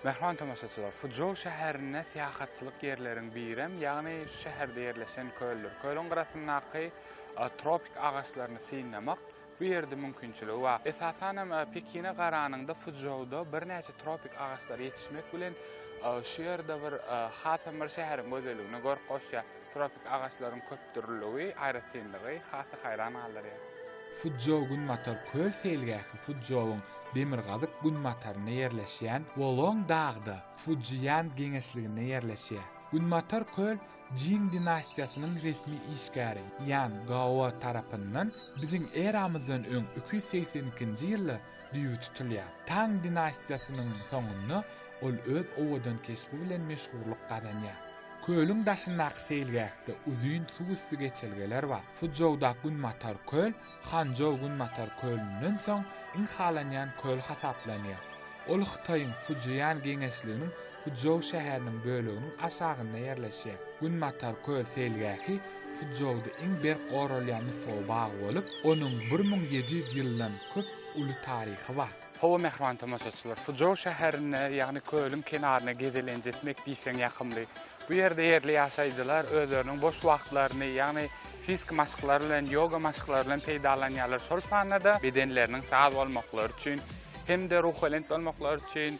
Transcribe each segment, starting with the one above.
Mähriban tomaşaçylar, Fuçžou şäherinde syýahatçylyk ýerleriň birem, ýagny şu şäherde ýerleşen köldür. Kölüň gyrasyndaky tropik agaçlaryny synlamak bu ýerde mümkinçiligi bar. Esasan hem, Pekine garanyňda Fuçžouda birnäçe tropik agaçlary ýetişmek bilen, şu ýerde bir hasam bir şäheriň gözelligine görk goşýar. Tropik agaçlaryň köpdürlüligi, aýratynlygy has-da haýran galdyrýar. Fuzjou-Günbatar köl seýilgähi Fuzjouň demirgazyk-günbatarynda ýerleşýän Wolong dagda, Fujiýan geňeşliginde ýerleşýär. Günbatar köl Jin dinastiýasynyň resmi işgäri Ýan Gao tarapyndan biziň eramyzdan öň iki ýüz segsen ikinji ýylda düýbi tutulýar. Tang dinastiýasynyň soňunda ol öz owadan keşbi bilen meşhurlyk gazanýar. Kölüň daşyndaky seýilgähde uzyn suwüsti geçelgeler bar. Fuçžouda Günbatar köl Hançžou Günbatar kölünden soň iň halanýan köl hasaplanýar. Ol Hytaýyň Fujian geňeşliginiň Fuçžou şäheriniň böleginiň aşagynda ýerleşýär. Günbatar köl seýilgähi Fuçžouda iň berk goralýan nusgawy bag bolup, onuň bir müň ýedi ýüz ýyldan köp uly taryhy bar. Hawa, mähriban tomaşaçylar, Fuçžou şäherinde, ýagny kölüň kenarynda gezelenç etmek diýseň ýakymly. Bu ýerde ýerli ýaşaýjylar özleriniň boş wagtlaryny, ýagny fiziki maşklary bilen, ýoga maşklary bilen peýdalanýarlar, şol sanda-da bedenleriniň saz bolmaklary üçin hem-de ruhubelent bolmaklary üçin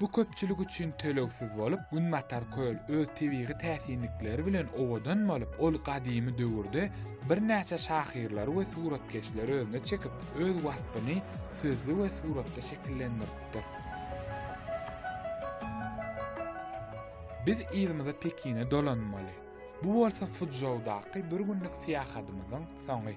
Bu köpçülik üçin tölegsiz bolup, Günbatar köl öz tebigy täsinlikleri bilen owadan bolup, ol gadymy döwürde birnäçe şahyrlary we suratkeşleri özüne çekip, öz waspyny sözli we suratda şekillendiripdir. Biz yzymyza Pekine dolanmaly. Bu bolsa Fuçžoudaky bir günlük syýahatymyzyň soňy.